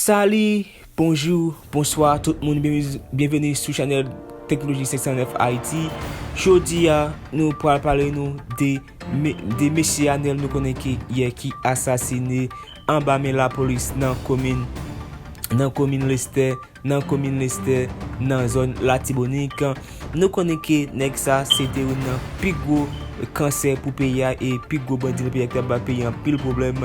Sali, bonjou, bonswa tout moun Byenveni sou chanèl Teknoloji 509 Ayiti Jodi a, nou pral pale nou de mesye Anel nou konnen ki yè ki asasine anba men lapolis nan komin Lestè nan komin Lestè nan zòn Latibonik. Nou konnen ke nèg sa se te youn nan pi gwo kansè pou peyi a e pi gwo bandi nan peyi a ki t ap bay peyi a anpil pwoblèm.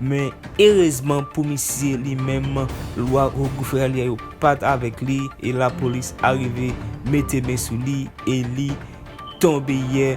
Men erezman pou misye li menm lwa Ogou Fralye yo pa t avèk li e lapolis arive mete men sou li e li tonbe yè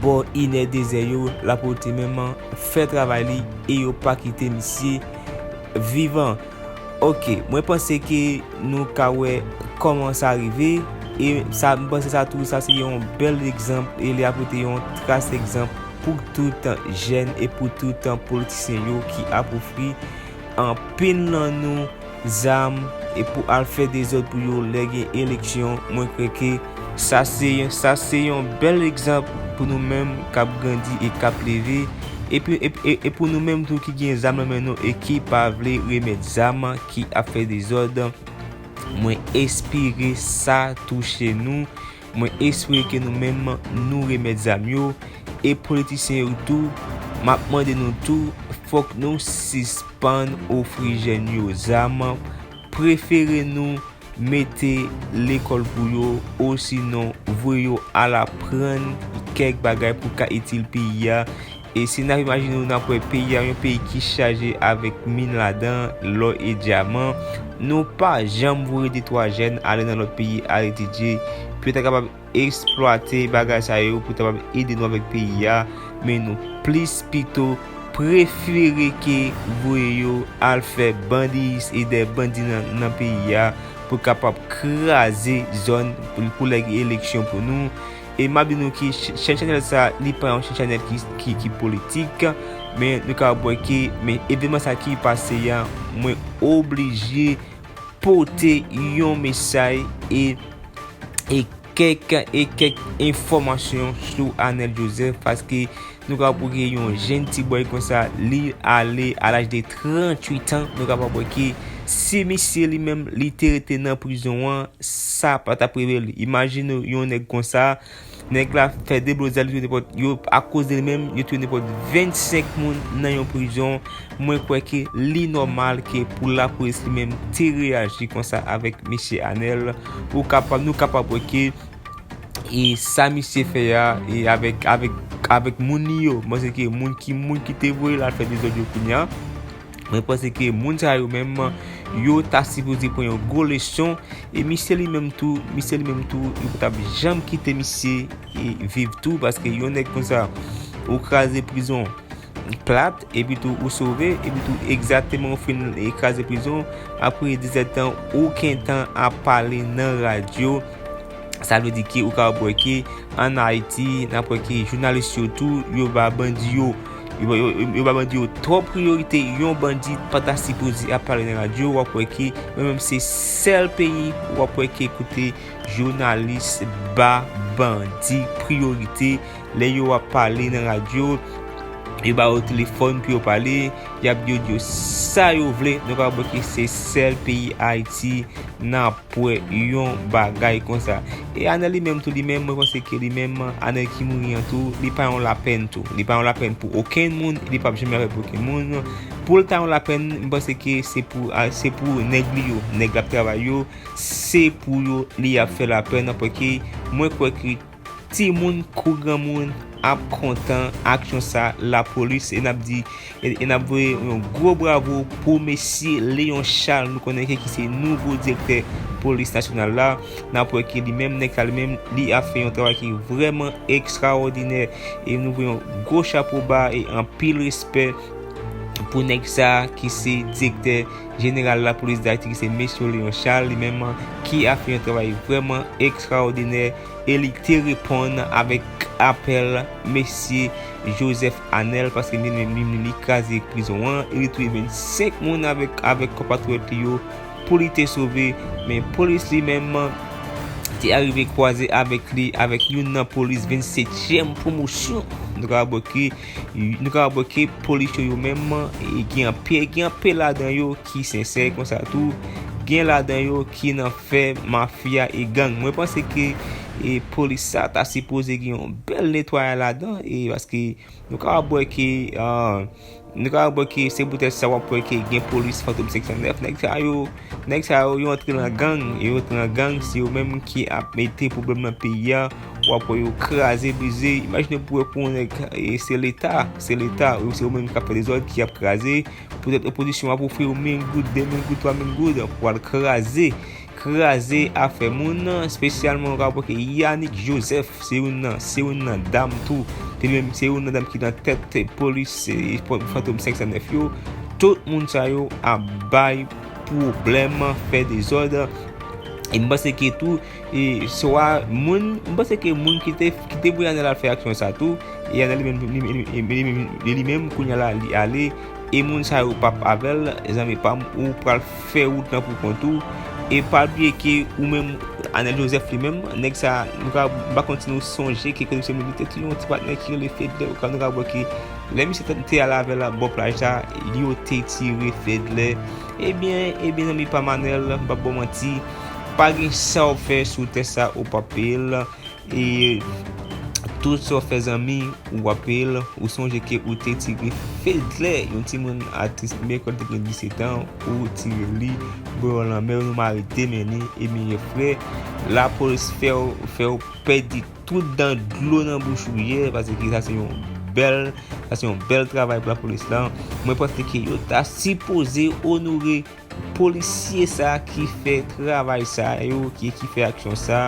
bò inè dezè yo. Lapolte menm fè travay li e yo pa kite misye vivan. Ok mwen panse ke nou ka wè kòman sa rive e sa mwen panse sa tou sa se yon bèl egzanp e li apote yon tras egzanp pou tout jèn e pou tout politisyen yo ki ap ofri anpil nan nou zam e pou al fè dezòd pou yo lè gen eleksyon mwen kwè ke Sa se yon sa se yon bèl egzanp pou nou menm kap grandi e kap leve epi e pou nou menm tou ki gen zam nan men nou e ki pa vle remèt zam ki ap fè dezòd mwen espire sa touche nou mwen espire ke nou menm nou remèt zam yo e politisyen yo tou map mande nou tou fòk nou sispann ofri jèn yo zam Prefere nou mete lekòl pou yo osinon voye yo al aprann kèk bagay pou ka itil peyi a. E si n ap imajine nou n ap wè peyi a yon peyi ki chaje avèk min ladan, lò e dyaman, nou pa janm voye detwa jèn ale nan lòt peyi al etidye pou yo ta kapab Eksplwate bagay sa yo pou ta kapab ede nou avèk peyi a, men nou plis pito prefere ke voye yo al fè bandiyis e dè bandi nan peyi a pou kapab kraze zòn pou lè gen eleksyon pou nou. E map di nou ki chèn chanèl sa li pa yon chèn chanèl ki politik, men nou kapab wè ke men evenman sa ki pase a mwen oblije. pote yon mesay e kèk e kèk enfòmasyon sou Anel Joseph paske nou ka pou ki yon jen ti boy kon sa li ale a laj de 38 an nou ka pa pou ki si misye li menm li te rete nan prizon an sa pa ta prevel imajine yon nèk kon sa Nèg la fè deblozay li touye nepòt yo akoz de li menm yo touye nepòt 25 moun nan yon prizon mwen kwè ke li nòmal ke pou lapolis li menm te reyaji konsa avèk mesye Anèl ou kapab nou kapab wè ke e sa misye fè ya e avèk avèk avèk moun li yo mwen se ke moun ki moun ki te voye la fè dezòd yo kounye an Mwen panse ke moun sa yo menm, yo ta sipoze pran yon gwo leson, e misye li menm tou, misye li menm tou, yo pa tap janm kite misye e viv tou, paske yon nèg kon sa, ou kraze prizon plat, epi tou ou sove, epi tou egzateman ou fin e kraze prizon, apre 17 tan, ou kentan ap pale nan radyo, Sa vle di ke ou kapab wè ke an Ayiti, n ap wè ke jounalis yo tou, yo ba bandi yo, yo ba bandi yo twòp priyorite. Yon bandi pa ta sipoze ap pale nan radyo, w ap wè ke mwen menm se sèl peyi w ap wè ke kote jounalis ba bandi priyorite. Lè yo ap pale nan radyo, yo ba yo telefòn pou yo pale, y ap di yo di yo sa yo vle. Nou kapab wè ke se sèl peyi Ayiti nan. Pou wè yon bagay konsa. E Anel li menm tou li menm mwen panse ke li menm Anel ki mouri an tou li pa yon lapèn tou. Li pa yon lapèn pou okenn moun e li pap janm lapèn pou okenn moun. Pou l ta yon lapèn m panse ke se pou se pou nèg li yo, nèg l ap travay yo se pou yo li ap fè lapèn paske mwen kwè ke Timoun kou granmoun ap kontan aksyon sa la polis e nap di e nap voye yon gwo bravo pou mesye Léon Charles nou konnen ke ki se nouvo direktè polis nasyonal la nap wè ke li menm nèg sa li menm li ap fè yon travay ki vrèman ekstraòdinè e nou voye yon gwo chapo ba e anpil respè pou nèg sa ki se direktè jeneral la polis dayiti ki se mesye Léon Charles li menm ki ap fè yon travay vrèman ekstraòdinè. e li te reponn avèk apèl Mesye Joseph Anel paske li menm li menm li kraze prizon an e li touye 25 moun avèk konpatriyòt li yo pou li te sove men polis li menm te arive kwaze avèk li avèk youn nan polis 27 tyèm pwomosyon nou ka wè ke polis yo yo menm gen anpe gen anpe ladan yo ki sensè konsa tou gen ladan yo ki nan fè mafya e gang mwen panse ke e polis sa ta sipoze gen yon bèl netwayay ladan e paske nou ka wap wè ke nou ka wap wè ke se poutèt sa wap wè ke gen polis fantom 509 nèg sa yo nèg sa yo yo antre nan gang yo antre nan gang se yo menm ki ap mete pwoblèm nan peyi a wap wè yo kraze brize imajine pou wè pou yon nèg se leta se leta se yo menm ki ap fè dezòd ki ap kraze Poutèt opozisyon ap ofri w mil goud, de mil goud, twa mil goud pou al kraze, kraze afè moun, spesyalman wap wè ke Yanick Joseph se youn nan, se youn nan dam tou, se li menm, se youn nan dam ki nan tèt te polis, se fantom 509 yo, tout moun sa yo ap bay pwoblèm, fè dezòd, e m panse ke tou. E swa moun, m panse ke moun ki te voye Anèl al fè aksyon sa tou, e Anèl li menm, li menm kounya la li ale, e moun sa yo pap avè l, zanmi pa m, ou pral fè wout lan pou kont ou, e pa bliye ke ou menm, Anèl Joseph li menm, nèg sa, m pa konn si nou sonje ke komisè militè te gen yon ti patnè ki rele Fedlè, ou ka nou ka wè ke lè misye te ale avè l bò plaj la, yo te tire Fedlè, ebyen, ebyen zanmi pa m Anèl, m pap ba w manti. Pa gen sa w fè sou tè sa ou pap peye l e tout sa w fè zanmi ou pap peye l ou sonje ke ou te tire Fedlè yon timoun atis Mecole te gen 17 an ou tire li bo yon lanmè yon mari demene e meyè frè lapolis fè w pèdi tout dan dlo nan bouch ou yè paske sa se yon bèl sa se yon bèl travay pou lapolis lan mwen panse ke yo ta sipoze onore Polisye sa ki fè travay sa yo ok ki fè aksyon sa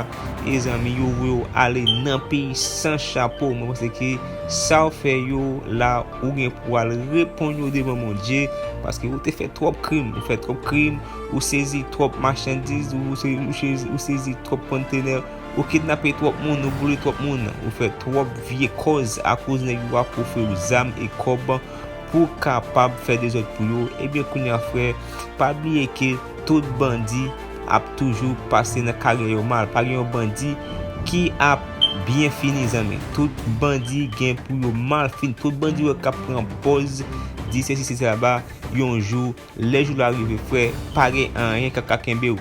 e zanmi yo voye w ale nan peyi san chapo mwen panse ke sa w fè yo la ou gen pou al reponn yo devan Bondye paske ou te fè twòp krim ou fè twòp krim ou sezi twòp machandiz ou sezi twòp kontenè ou kidnape twòp moun ou boule twòp moun ou fè twòp vye kòz akoz nèg yo ap ofri w zam e kòb pou kapab fè dezòd pou yo ebyen kounya frè pa bliye ke tout bandi ap toujou pase nan karyè yo mal pa gen yon bandi ki ap byen fini zanmi tout bandi gen pou yo mal fini tout bandi wè kap pran pòz di sesi sesa ba yon jou Lè jou la rive frè pa gen anyen kap ka kenbew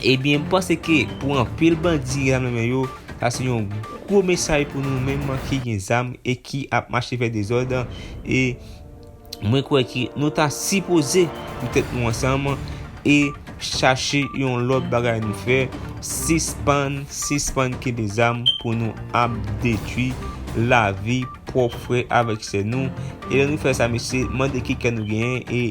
Ebyen m panse ke pou anpil bandi gen zam nan men yo sa se yon gwo mesaj pou nou menm ki gen zam e ki ap mache fè dezòd e mwen kwè ke nou ta sipoze met tèt nou ansanm e chache yon lòt bagay nou fè sispann sispann kenbe zam pou nou ap detwi lavi pwòp frè avèk sè nou. E lè nou fè sa mesye, mande ki kè nou genyen e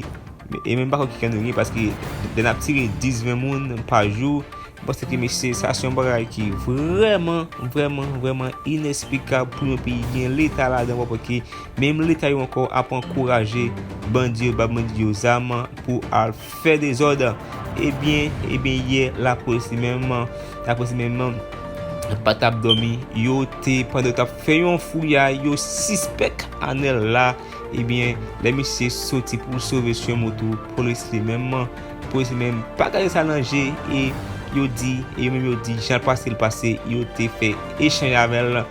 e menm pa konn ki kè nou genyen paske lè n ap tire 10, 20 moun pa jou, m panse ke mesye sa se yon bagay ki vrèman, vrèman, vrèman inesplikab pou yon peyi gen leta ladan w pa pè ke menm leta yo ankò ap ankouraje bandi yo, ap ban bandi yo zam pou al. fè dezòd ebyen ebyen yè lapolis li menm lapolis li menm pa tap dòmi yo te pandan yo tap fè yon fouyay yo sispèk Anèl la ebyen lè misye soti pou l sove swen moto polis li menm polis li menm pa gade sa nan je e yo di e yo menm yo di jan l pase l pase yo te fè echanj avè l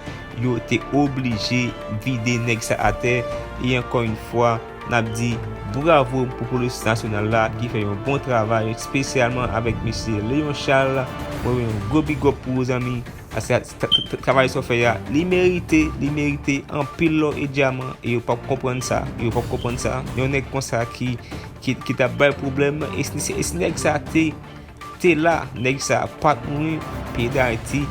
yo te oblije vide nèg sa atè e ankò yon fwa N ap di bravo pou polis nasyonal la ki fè yon bon travay spesyalman avèk mesye Léon Charles mwen yon gwo big up pou ou zanmi paske travay sa w fè a li merite li merite anpil lò e dyaman e yo pap konprann sa e yo pap konprann sa yon nèg konsa ki ta bay pwoblèm e si nèg sa te Te la neg sa pat mouri peyi dayiti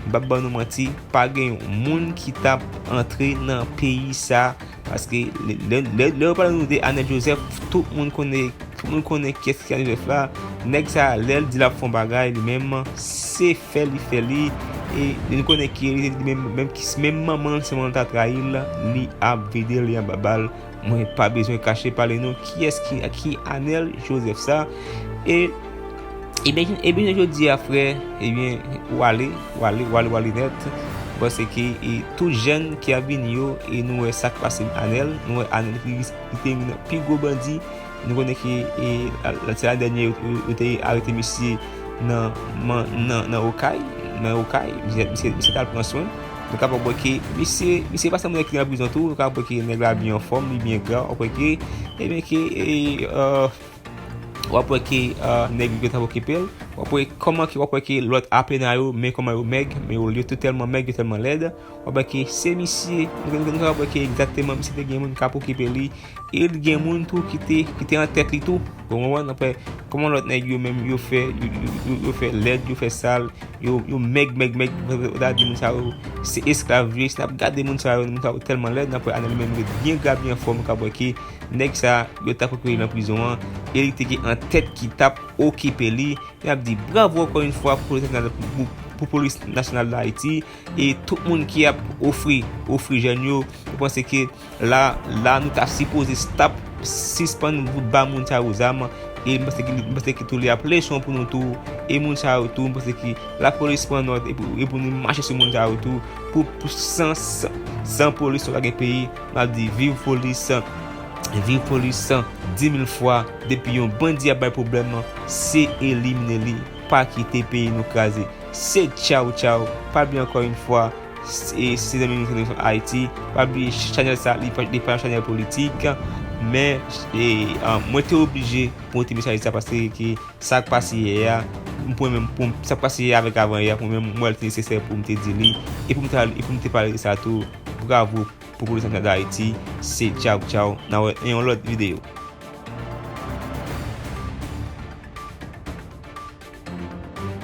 m pap ban nou manti pa gen yon moun ki tap antre nan peyi sa paske lè yo pale nou de anel joseph tout moun konnen tout moun konnen kyes ki anel joseph la neg sa lèl di lap fon bagay li menm se fè li fè li e li konnen ki menm menm manman se manman ta trayil li ap vide li anba bal Mwen pa bezwen kache pale nou kiyès ki ki Anel Joseph sa e ebyen ebyen jan jodi a frè ebyen ou ale ou ale ou ale ou ale nèt paske e tout jèn ki ap vini yo e nou wè sak pase Anel nou wè Anel li te youn nan pi gwo bandi Nou konnen ke se lane dènye yo te arete misye nan Okay, nan Okay, misye tal pran swen. Nou kapab wè ke misye pa sanble nèg ki nan prizon tou, nou kapab wè ke nèg la byen anfòm, li byen gra, wap wè ke, e byen ke, wap wè ke nèg yo tap okipel, wap wè kòman ke, wap wè ke lòt apena yo, men kòman yo mèg, men yo lye tou tèlman mèg, yo tèlman lèd, wap wè ke se misye, nou kapab wè ke egzakteman misye te gen moun kap okipe li. E li gen moun tou ki te, ki te an tèt li tou. Ou konprann? Aprè, kòman lòt nèg yo menm yo fè, yo fè lèd, yo fè sal, yo mèg, mèg, mèg, ou ta di moun sa yo se esklav vre. Si n ap gade moun sa yo, moun sa yo tèlman lèd, aprè Anèl li menm ret byen gra, byen anfòm, ou kab wè ke nèg sa yo ta poko li nan prizon an, e li te gen an tèt ki t ap okipe li. N ap di bravo ankò yon fwa pou Polis Nasyonal, pou Polis Nasyonal Dayiti, e tout moun ki ap ofri, ofri jèn yo, yo panse ke. La la nou ta sipoze stop sispann vout ba moun sa yo zam e m panse m panse ke tou li ap leson pou nou tou e moun sa yo tou m panse ke lapolis pran nòt e pou nou mache sou moun sa yo tou pou pou san san polis nou pa gen peyi m ap di viv polis viv polis san dimil fwa depi yon bandi ap bay pwoblèm se elimine li pa kite peyi nou kraze se tchaw tchaw pa bliye ankò yon fwa Si zanmi nou fini fè ayiti pa bliye chanèl sa li pa yon chanèl politik men mwen te oblije pou te mesaj sa paske ki sak pase yè ya m pou mwen menm sak pase yè ya avèk avan yè ya pou mwen menm mwen te nesesè pou m te di li e pou m te pale sa tou bravo pou polis nasyonal dayiti se tchaw tchaw nan wè nan yon lòt videyo.